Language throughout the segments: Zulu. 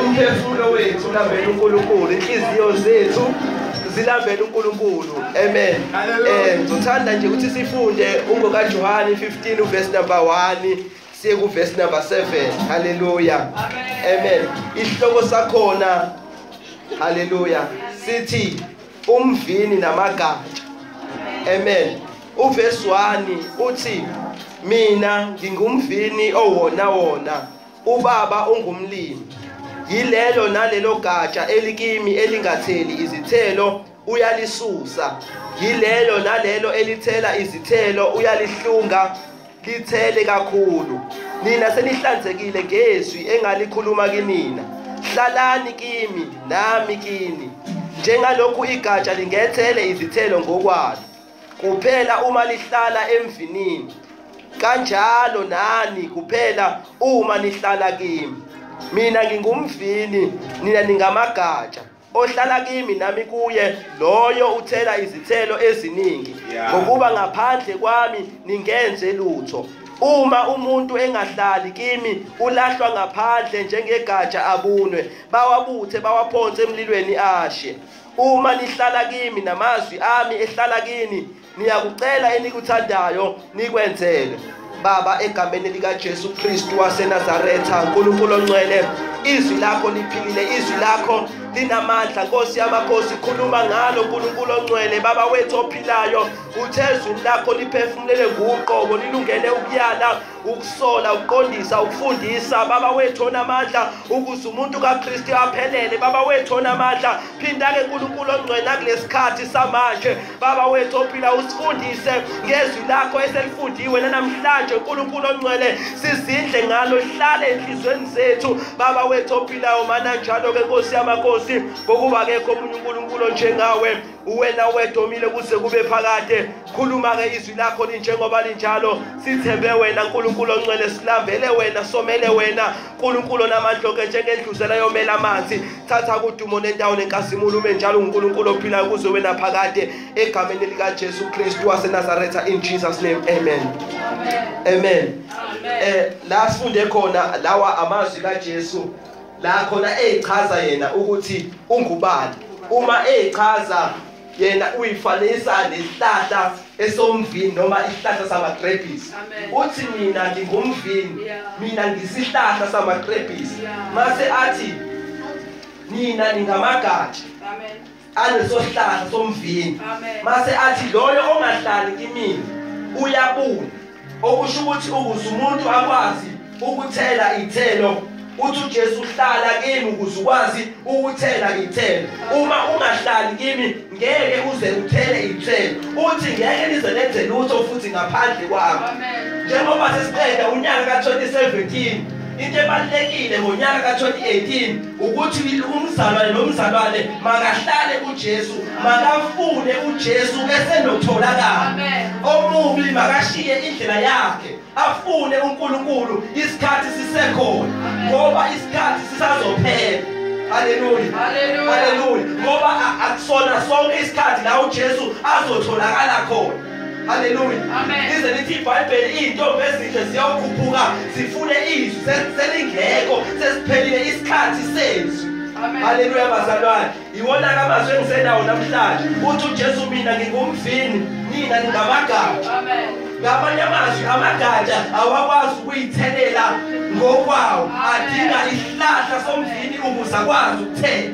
umphefumulo wethu ulambela uNkulunkulu inhliziyo zethu zilambele uNkulunkulu amen eh ngithanda nje ukuthi sifunde ungoka Johane 15 uverse number 1 siye ku verse number 7 haleluya amen isihloko sakhona haleluya sithi umvini namagatsha amen uverse 1 uthi mina ngingumvini owona wona Ubaba ungumlimi. Yilelo nalelo gatsha elikimi elingatheli izithelo uyalisusa. Yilelo nalelo elithela izithelo uyalihlunga lithele kakhulu. Nina senihlanzekile ngezwi engalikhuluma kinina. Hlalani kimi nami kini. Njengalokhu igatsha lingethele izithelo ngokwalo. kuphela uma lihlala emvinini kanjalo nani kuphela uma nihlala kimi mina ngingumvini nina ningamagatsha ohlala kimi nami kuye loyo uthela izithelo eziningi ngokuba ngaphandle kwami ningenze lutho uma umuntu engahlali kimi ulahlwa ngaphandle njengegatsha abunwe bawabuthe bawaphonse emlilweni ashe Uma nihlala kimi namazwi ami ehlala kini, niyakucela enikuthandayo nikwenzele. Baba egameni lika Jesu Kristu waseNazaretha uNkulunkulu ongcwele izwi lakho liphilile izwi lakho linamandla Nkosi yamakhosi khuluma ngalo uNkulunkulu ongcwele baba wethu ophilayo uthe izwi lakho liphefumulele nguqobo lilungele ukuyala ukusola ukuqondisa ukufundisa baba wethu onamandla ukuze umuntu kaKristu aphelele baba wethu onamandla phinda ke uNkulunkulu ongcwela kulesikhathi samanje baba wethu ophila usifundise ngezwi lakho eselifundiwe namhlanje uNkulunkulu ongcwele sizindle ngalo hlale enhlizweni zethu baba wethu ophilayo mana njalo ke Nkosi yamakhosi ngokuba kekho omunye uNkulunkulu njengawe uwena wedwa omile kuze kube phakade khuluma-ke izwi lakho linjengoba linjalo sithembe wena nkulunkulu oncwele silambele wena somele wena nkulunkulu onamandloke njengendluzela yomela amanzi thatha kudumo nendawo nenkazimulo ume njalo unkulunkulu ophilayo kuze wena phakade egameni likajesu kristu wasenazaretha in jesus name amen amen um la sifunde khona lawa amazwi kajesu la khona ezichaza yena ukuthi ungubani uma ezichaza yena uyifanisa nesihlahla esomvini noma isihlahla samagrebhisi uthi mina ngingumvini mina ngisihlahla samagrebhisi mase athi nina ningamagatsha amen anesosihlahla somvini mase athi loyo ongahlali kimini uyabuna okusho ukuthi ukuze umuntu akwazi ukuthela ithelo uthi uJesu uhlala kimi ukuze ukwazi ukuthela ithelo uma ungahlali kimi ngeke uze uthele ithelo uthi ngeke nize nenze lutho futhi ngaphandle kwami njengoba sesiqeda unyaka ka 2017 into ebalulekile ngonyaka ka-2018 ukuthi umzalwane nomzalwane makahlale ujesu makafune ujesu esenokutholakala omubi makashiye indlela yakhe afune unkulunkulu isikhathi sisekhona ngoba isikhathi sisazophela haleluya haleluya ngoba akusona sonke isikhathi la ujesu azotholakala khona Hallelujah. Amen. Ize lithi iBhayibheli izintombi ezinhle ziyawukhuphuka zifune izwi selingekho sesiphelile isikhathi sezwi. Haleluya bazalwane. Iwona kamazwi engisenawo namhlanje. Uthi uJesu mina ngingumvini, nina ningamagama. Amen. Ngamanye amazwi amagatsha awakwazi ukuyithelela ngokwawo adinga isihlahla somvini ukuze akwazi ukuthela.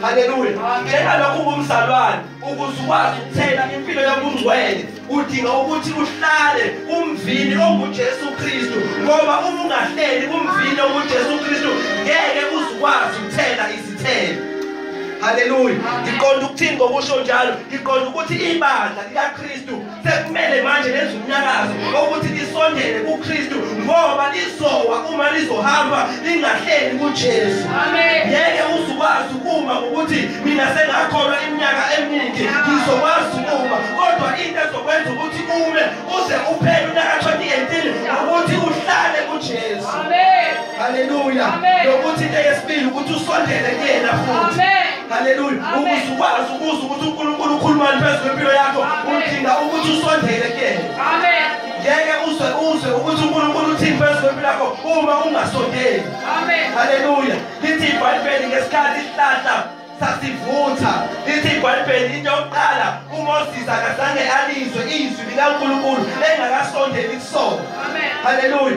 Haleluya. Njengalokhu ungumzalwane ukuze ukwazi ukuthela impilo yobungcwele udinga ukuthi uhlale kumvini ongujesu kristu ngoba uma ungahleli kumvini ongujesu kristu ngeke uzukwazi ukuthela izithelo haleluya ngiqonda ukuthini ngokusho njalo ngiqonda ukuthi ibandla likakristu sekumele manje lenze umnyakazo ukuthi lisondele kuKristu ngoba lizowa uma lizohamba lingahleli kuJesu ngeke uzukwazi ukuma ngokuthi mina sengakholwa iminyaka eminingi ngizokwazi ukuma kodwa into ezokwenza ukuthi ume uze uphele unyaka 2018 ukuthi uhlale kuJesu amen haleluya lokuthi into yesibili ukuthi usondele kuyena futhi amen Haleluya. Ukuze ukwazi ukuzwa ukuthi uNkulunkulu ukhulumani phezu kwempilo yakho, udinga ukuthi usondele kuyena. Amen. Ngeke uzwe uzwe ukuthi uNkulunkulu uthini phezu kwempilo yakho uma ungasondeli. Amen. Haleluya. Lithi iBhayibheli ngesikhathi isihlahla sasivutha lithi ibhayibheli into yokuqala umoses akazange alizwe izwi likankulunkulu engakasondeli kusona haleluya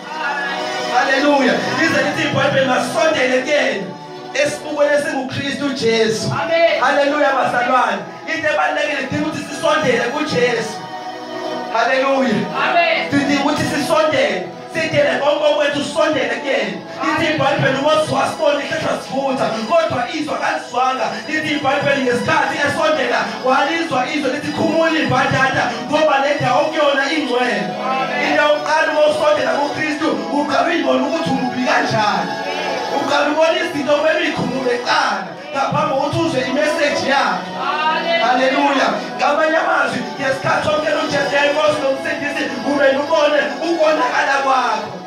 Hallelujah. Lize lithi iBhayibheli masondele kuyena esibukweni esinguKristu Jesu. Amen. Hallelujah bazalwane. Into ebalekile idinga ukuthi sisondele kuJesu. Hallelujah. Amen. Sidinga ukuthi sisondele sidele konke okwethu sondele kuyena lithi ibhayibheli umoziwa sibone ihlehla sivutha kodwa izwa kalizwanga lithi ibhayibheli ngesikhathi esondela walizwa izwe lithi khumula ibhadada ngoba le ndawo kuyona ingcwele into yokuqala uma usondela kukristu uqala uyibona ukuthi umubi kanjani uqala ubona izinto kumele uyikhumule kuqala ngaphambi kokuthi uzwe imeseji yakhe haleluya ngamanye amazwi ngesikhathi somkela ujesu yayinkosi nomsindisi kumele ubone ukonakala kwakho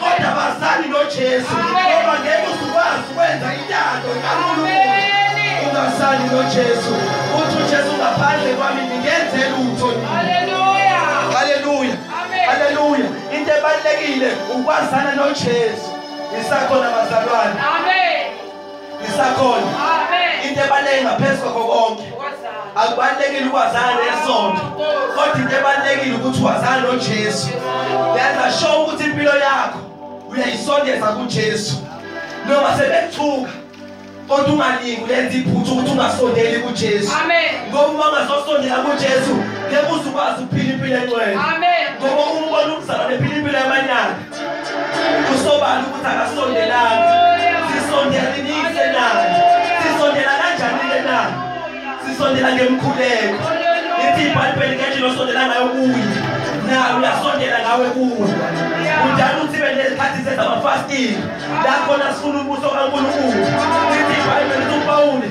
kodwa bazani noJesu ngoba ngeke uzukwazi ukwenza intando kaNkulunkulu ungasani noJesu uthi uJesu ngaphandle kwami ngingenze lutho haleluya haleluya haleluya into ebalekile ukwazana noJesu isakhona bazalwane amen lisakhona into ebaluleke ngaphezu kwakho konke akubalulekile ukwazana nesonto kodwa into ebalulekile ukuthi wazana nojesu yenza sure ukuthi impilo yakho uyayisondeza kujesu noma sebethuka kodwa ungalingi ulenza iphutha ukuthi ungasondeli kujesu ngoba uma ungazosondela kujesu ngeke uzukwazi ukuphila impilo engcwele ngoba umbona umzalwane ephila impilo yamanyala Kusobala ukuthi akasondelanga. Sisondela ninike na? Sisondela kanjani ke na? Sisondela ngemkhuleko. Ithi iBhayibheli ngethi nosondela ngayo kuye. Na uyasondela ngawe kuwe. Udala uthi bende isikhathi senza ama fasting. La khona sifuna umbuso kaNkulunkulu. Ithi iBhayibheli uPawuli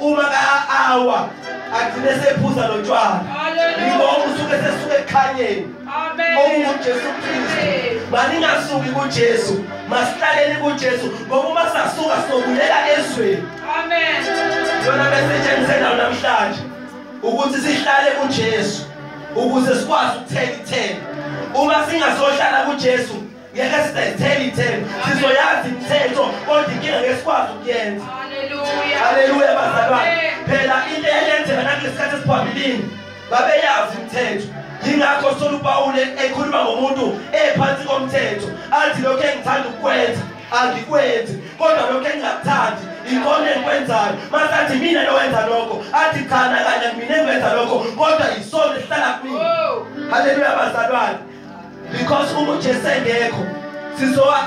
uma ka-awa agcine sephuza lo tshwala yiko okusuke sesuke ekukhanyeni okungujesu kristu maningasuki kujesu masihlaleni kujesu ngoba uma sasuka sokulela ezweni yona besetshenzisenayo namhlanje ukuthi sihlale kujesu ukuze sikwazi ukuthela ithela uma singasohlala kujesu ngeke sizayithela ithemba sizoyazi imithetho kodwa inkinga ngeke sikwazi ukuyenza haleluya bazalwane phela into eyayenzeka nangesikhathi esiphambilini babeyazi imithetho yingakho sithola upawule ekhuluma ngomuntu ephansi komthetho athi lokhu engithanda ukukwenza angikwenzi kodwa lokhu engingakuthandi ikhona engikwenzayo masathi mina lowenza lokho athi cha nakanye mina engiwenza lokho kodwa yisona esihlala kumina haleluya bazalwane because uma uJesu engekho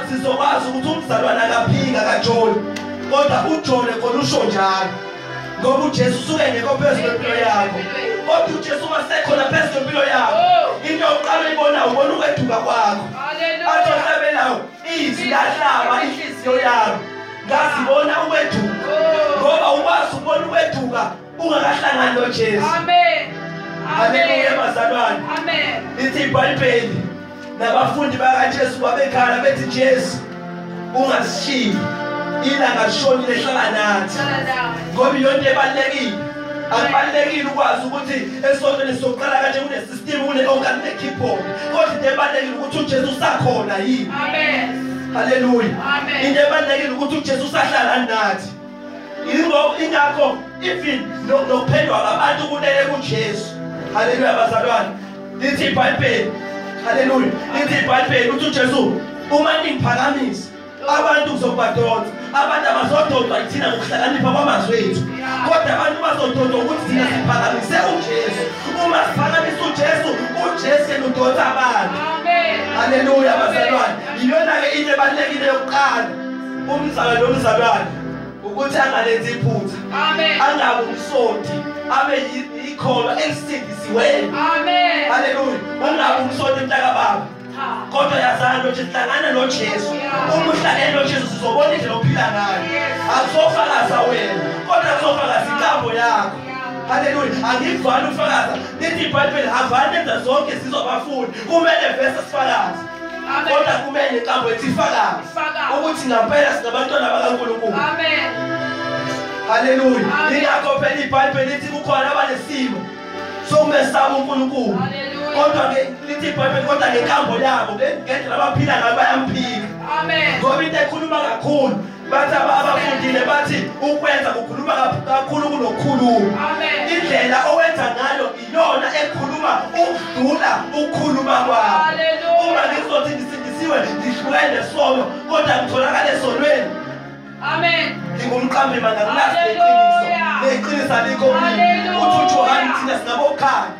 sizokwazi ukuthi umzalwane akaphika kajoli kodwa ujole khona usho njalo ngoba uJesu usuke engekho phezu kwempilo yakho kodwa uJesu uma sekhona phezu kwempilo yakho into yokuqala uyibona ubona ukweduka kwakho athi ohlabelayo izwi lahlaba inhliziyo yami ngazibona ukweduka ngoba ukwazi ukubona ukweduka ungakahlangani nojesu aleluya bazalwane lithi ibhayibheli nabafundi bakajesu babekhala bethi jesu ungasishiyi ilanga lishonile hlala nathi ngoba iyonto ebalulekile akubalulekile ukwazi ukuthi esontweni sokuqala kanje kunesystem kune-onka kune-keyboard kodwa into ebalulekile ukuthi ujesu usakhona yini haleluya into ebalulekile ukuthi ujesu usahlala nathi yingakho ingakho even nokuphendwa ngabantu kunele kujesu haleluya bazalwane lithi ibhayibheli haleluya lithi ibhayibheli ukuthi ujesu uma ningiphakamisa abantu kuzobadonsa abantu abazododwa yithina ngokuhlakanipha kwamazwi ethu kodwa abantu bazododwa ukuthi thina siphakamise ujesu uma siphakamisa ujesu ujesu yena udonsa abantu haleluya bazalwane yiyona-ke into ebalulekile yokuqala umzali nomzalwane ukuthi angalenzi iphutha angabe umsonti abe yikholwa elisindisiweyo haleluya ungabe umsonti mntakababa kodwa yazani lothi sihlangana nojesu uma uhlangene nojesu sizobona indlela ophila ngayo akuzofakaza wena kodwa kuzofakaza inkambo yakho haleluya angikuvani ukufakaza lithi ibhayibheli havani enza zonke sizobafuni kumele vese sifakaze kodwa kumele nenkambo ethi ifakazi ukuthi ngampela singabantwana bakaNkulunkulu amen haleluya yingakho phela ibhayibheli lithi kukhona abanesimo sokumesaba uNkulunkulu kodwa ke lithi ibhayibheli kodwa ngenkambo yabo ngendlela abaphila ngayo bayamphika amen ngoba into ekhuluma kakhulu bathi abafundile bathi ukwenza kukhuluma kakhulu kunokukhuluma indlela owenza ngayo iyona ekhuluma ukudlula ukukhuluma kwakho uma ngizothi ngisindisiwe ngihlukene sono kodwa ngitholakale esonweni amen ngingumqambi manga ngilasi leqiniso leqiniso alikho uthi ujohane thina singabokhaya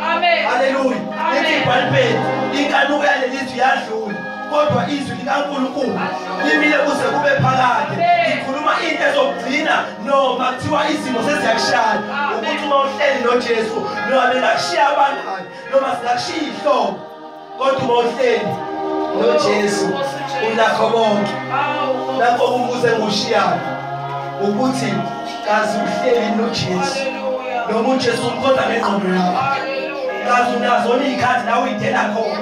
Amen. Hallelujah. Ithi ibhalipeni inkanuko yaleli izwi yadlula kodwa izwi likaNkulunkulu limile kuze kube phakade. Ikhuluma into ezokugcina noma kuthiwa izimo seziyakushaya. Ukuthi uma uhleli noJesu noma bengakushiya abangani noma singakushiya ihlobo kodwa uma uhleli nojesu unakho konke lapho umbuzo engiwushiyayo ukuthi kazi uhleli nojesu noma ujesu umqonda ngengqondo yakho kazi unazo niyikhathi la uyidela khona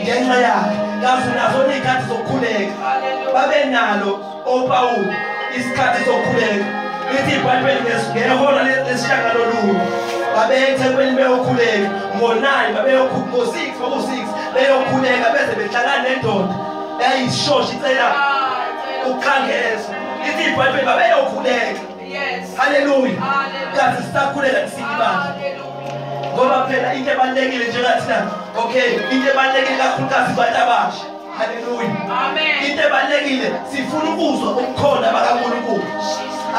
ngenxa yakhe kazi unazo niyikhathi zokukhuleka babe nalo OPawulu, isikhathi sokukhuleka. Lithi iBhayibheli ngehora lesishagalolunye babeya ethempelini beyokhuleka ngo-nine babeyokhuleka ngo-six kwaku-six beyokhuleka beze behlangana nendoda eyayisishosha icela ukukhangeza ithi ibhayibheli babeyokhuleka haleluya kazi sisakhuleka kusini ibandla ngoba phela into ebalulekile njengathina okay into ebalulekile kakhulukazi abantu abasha Hallelujah. Amen. Into ebalekile sifuna ukuzwa ukukhona bakaNkulunkulu.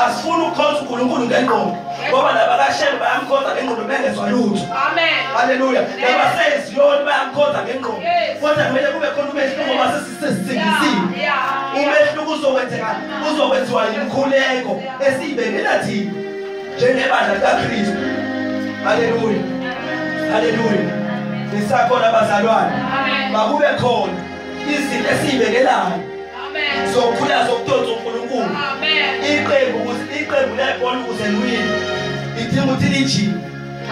Asifuna ukukhonza uNkulunkulu ngengqondo. Ngoba laba kaShembe bayamkhonza ngengqondo bengezwa lutho. Amen. Hallelujah. Laba seziyoni bayamkhonza ngengqondo. Kodwa kumele kube khona umehluko ngoba sesisizingisiwe. Umehluko uzokwenzeka uzokwenziwa yimkhuleko esiyibekela thina. njengebandla likaKristu haleluya haleluya nisakhona abazalwane makube khona izinto esiyibekelayo zokukhula zokudonsa uNkulunkulu iqembu ukuthi iqembu lebhola ukuze liwine idinga ukuthi lijime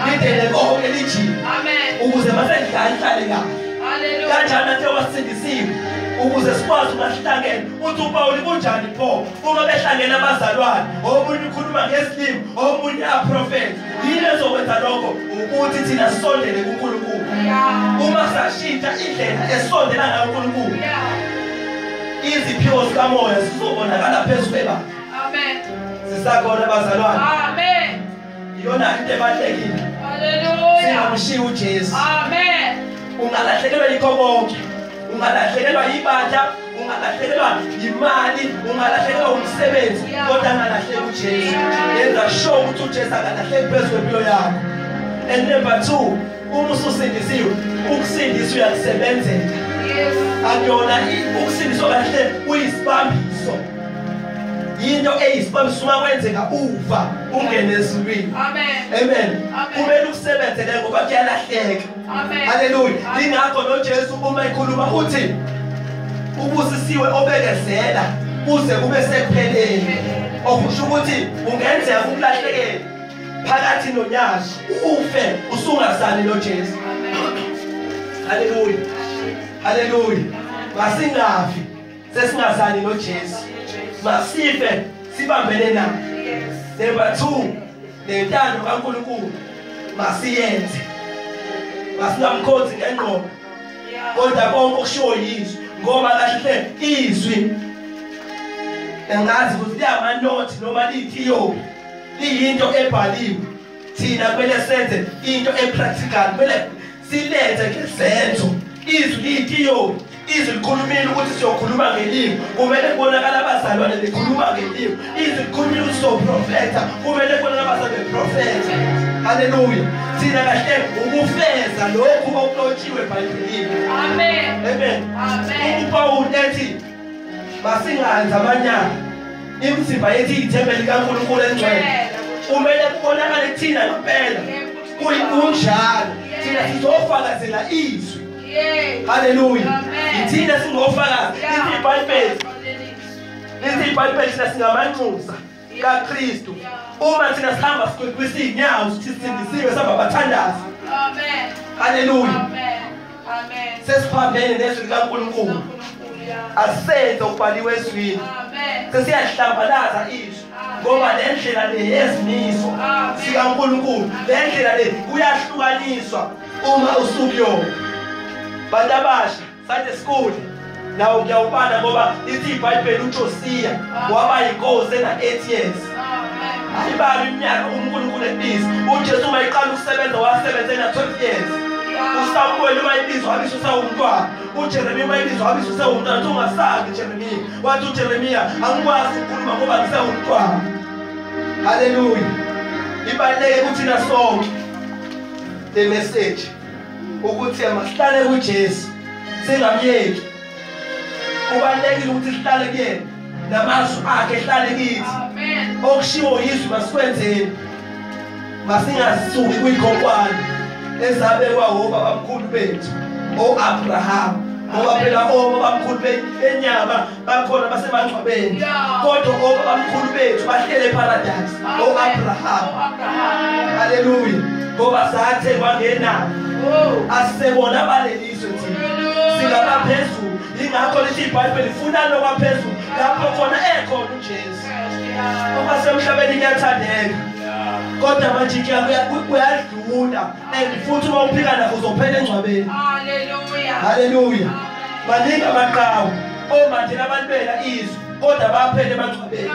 lidele konke lijime ukuze masedlala ihlale kahle kanjani athe wasindisiwe ukuze sikwazi umahlangene uthi upawuli kunjani pho uma behlangene abazalwane omunye ukhuluma ngesilimi omunye aprofethe yini ezokwenza lokho ukuthi thina sisondele kunkulunkulu uma sashintsha indlela esondela ngayo unkulunkulu iziphiwo zikamoya zizobonakala phezu kwebandla sisakhona bazalwane iyona into ebalulekile haleluya singamshiya uJesu amen ungalahlekelwa yikho konke ungalahlekelwa yibandla ungalahlekelwa yimali ungalahlekelwa umsebenzi kodwa angalahleki uJesu yenza sure ukuthi uJesu akalahleki phezu kwempilo yakho and number 2 uma ususindisiwe ukusindisa uyakusebenzela akuyona ukusindiswa kahle uyisibambiso yinto eyisibamisuma kwenzeka ufa ungene ezulwini amen kumele ukusebenze ke ngoba kuyalahleka haleluya ingakho nojesu uma ekhuluma uthi ubusisiwe obekezela kuze kube sekupheleni okusho ukuthi ungenzeka ukulahlekela phakathi nonyazi ufe usungasali nojesu haleluya haleluya masingafi sesingasali noJesu masife sibambene naye number 2 nentando kaNkuluNkulu masiyenze masingamkhonzi ngengqondo kodwa konke okushiwo yizwi ngoba kahle izwi engazi ukuthi liyamanothi noma liyithiyopi liyinto ebhaliwe thina kumele senze into epractical kumele silenze ngezenzo izwi liyitiyoni izwi likhulumile ukuthi siyokhuluma ngelimi kumele kubonakala abazalwane likhuluma ngelimi izwi likhulumile ukuthi sizoprofetha kumele kubonakala abazalwane beprofetha haleluya thina kahle ukufeza lokhu okulotshiwe ebhayibhelini amen amen amen upawulu ethi masinganzi amanyala imizimba yethu iyithembe likankulunkulu engcwele kumele kubonakale kuthina ngempela kunjalo thina sizofakazela izwi haleluya yithina singofakazi lithi ibhayibheli lithi ibhayibheli thina singamanxusa kaKristu uma thina sihamba sikwisa izinyawo sithi sindisiwe sihamba bathandaza amen haleluya amen amen sesiphambene nezwi likaNkulunkulu asenze ukubhaliwe ezwini sesiyahlambalaza izwi ngoba le ndlela le yezimiso sikankulunkulu le ndlela le kuyahlukaniswa uma usukuyona bantu abasha Sunday school nawo ngiyawubala ngoba lithi ibhayibheli ujosiya waba yinkosi ena-eight years ayibali iminyaka unkulunkulu ebiza ujesu uma iqala ukusebenza wasebenza ena-twelve years usamuweli uma ibiza wabisa usawumntwana ujeremiya uma ibiza wabisa usewumntwana uthi ungasazi ujeremiya wathi ujeremiya angikwazi ukukhuluma ngoba ngisewumntwana haleluya ibaluleke kuthina sonke le message ukuthi masihlale kuJesu singamyeki kubalekile ukuthi sihlale kuyena namazwi akhe ehlale kithi okushiwo yizwi masikwenzeni masingazisuki kuyikhonkwane ezabekwa wobabamkhulu bethu o-abrahama ngoba phela obabamkhulu benyama bakhona basemangcwabeni kodwa obabamkhulu bethu bahlele eparadise o-abrahama haleluya ngoba sathe kwangena oh. asisebona balelizwe thina singabaphezulu ingakho lithi ibhayibheli funa lokwaphezulu lapho khona ekhona ujesu uma semhlabeni kuyathandeka kodwa manje kuyadlula and futhi uma uphika nakho uzophela engcwabeni haleluya Maningi amaqhawe omanje labantwela izwe kodwa baphele emangcwabeni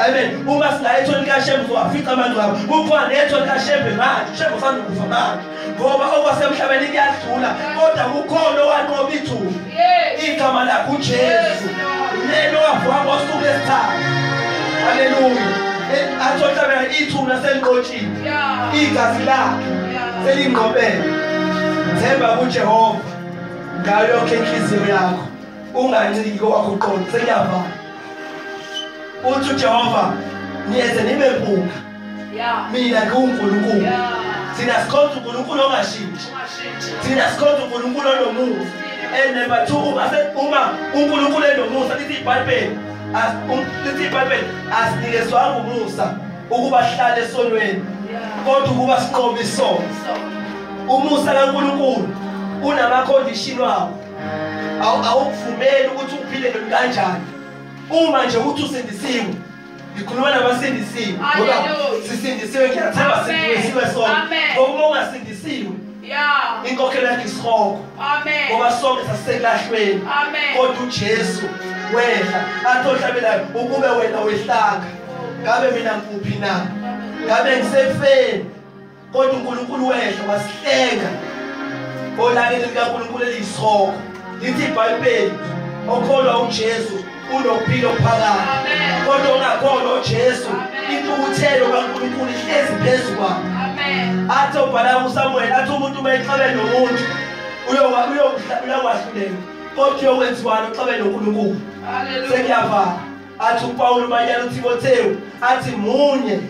amen uma singaya ethoni likashembe uzowafica amangcwaba kukhona ethoni likashembe manje shembe usanukufa manje ngoba okwasemhlabeni kuyadlula kodwa kukhona owanqoba ithuba igama lakhe ujesu lelo wavuka ngosuku lesithathu haleluya eh, athi ohlabela ithuna seliqotshile igazi lakhe selingqobele themba kujehova ngayo yonke inhliziyo yakho unganciki kowakho uqondo sengiyavala uthi ujehova niyeze nibe mpunga mina ngiwunkulunkulu thina sikhonza unkulunkulu ongashintshi thina sikhonza unkulunkulu onomusa and number two uma uma unkulunkulu enomusa lithi ibhayibheli lithi ibhayibheli asinikezwanga umusa ukuba sihlale esonweni kodwa ukuba sinqobe isono umusa kaNkulunkulu unamacondition wawo awukuvumeli ukuthi uphile kanjani uma nje ukuthi usindisiwe ngikhuluma nabasindisiwe ngoba sisindisiwe ngiyathemba sindisiwe sona ngokuba ungasindisiwe inkokhelo yakhe isihogo ngoba sonke sasiselahlweni kodwa ujesu wehla athi ohlabelayo ukube wena wehlaka ngabe mina ngikuphi na ngabe ngisefeni kodwa uNkulunkulu wehla wasihlenga olakeni likaNkulunkulu elisoko lithi iBhayibheli okholwa uJesu unokuphila okuphakade kodwa ongakholwa uJesu intukuthelo kaNkulunkulu ihlezi phezu kwakhe athi ubhala uSamuel athi umuntu uma exabene nomuntu uyokwahlulela kodwa uyokwenziwani uxabene noNkulunkulu sekuyavala athi uPawulu manyana uTimothewu athi munye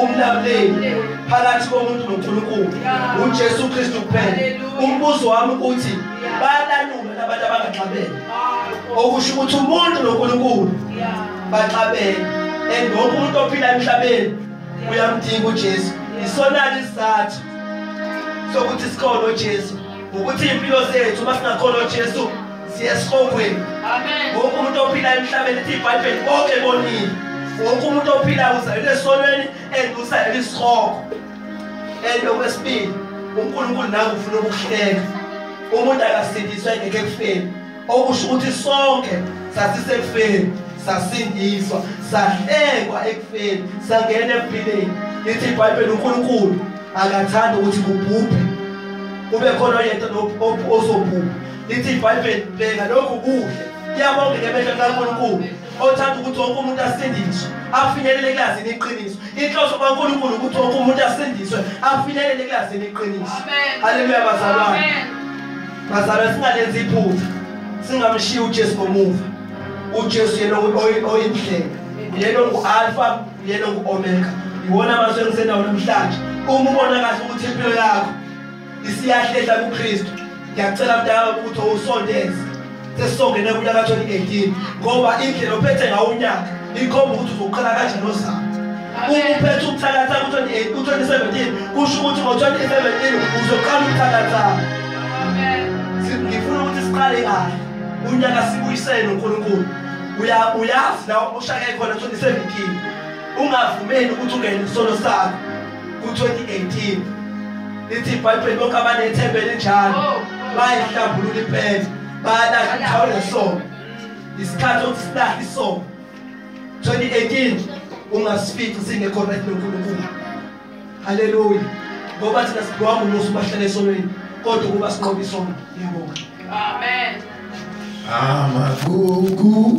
umlamleli phakathi komuntu noNkulunkulu uJesu Kristu kuphela umbuzo wami ukuthi bayalalula abantu abangaxabene okusho ukuthi umuntu noNkulunkulu baxabene and wonke umuntu ophila emhlabeni uyamdinga uJesu isona isizathu sokuthi sikhona uJesu ukuthi impilo zethu uma singakhona uJesu siyesihogweni wonke umuntu ophila emhlabeni ithi ibhayibheli konke bonile wonke umuntu ophila uzalele esonweni and uzalele isihogo and okwesibili unkulunkulu nawe ufuna ukuhleka umuntu akasindiswa engeke ekufeni okusho ukuthi sonke sasisekufeni sasindiswa sahlekwa ekufeni sangena empilweni lithi ibhayibheli unkulunkulu akathanda ukuthi kubhubhe kube khona oyedwa ozobhubha lithi ibhayibheli bheka lokhu kuhle iyabongeka emehlo kaNkulunkulu othanda ukuthi wonke umuntu asindiswe afinyelele ekulazini iqiniso inhloso kaNkulunkulu ukuthi wonke umuntu asindiswe afinyelele ekulazini iqiniso haleluya bazalwane bazalwa singalenzi iphutha singamshiyi uJesu ngomuva uJesu yena oyindlela yena ongu-alfa yena ongu-omega yiwona amazwi engisenawo namhlanje uma ubona kahle ukuthi impilo yakho isiyahlehla kuKristu ngiyacela mdala ukuthi usondeze sesizongena kunyaka 2018 ngoba indlela ophethe ngawo unyaka ikhomba ukuthi uzoqala kanjani ozama ukuphetha ukuthakatha ku-2017 kusho ukuthi ngo-2017 uzoqala ukuthakatha ngifuna ukuthi siqale kahle unyaka sibuyisele nonkulunkulu uyazi la ushaya khona 2017 ungavumeli ukuthi ungene isono sakho ku-2018 lithi ibhayibheli bonke abanethembe elinjalo oh, oh. bayihlambulula impela bayalahla indawo nesongo isikhathi sokuthi silahle isongo 2018 ungasifici singekho right nonkulunkulu haleluya ngoba thina sidliwa ngumusa ubahlala esonweni kodwa ukuba sinqobe isono ngiyabonga amen amagugu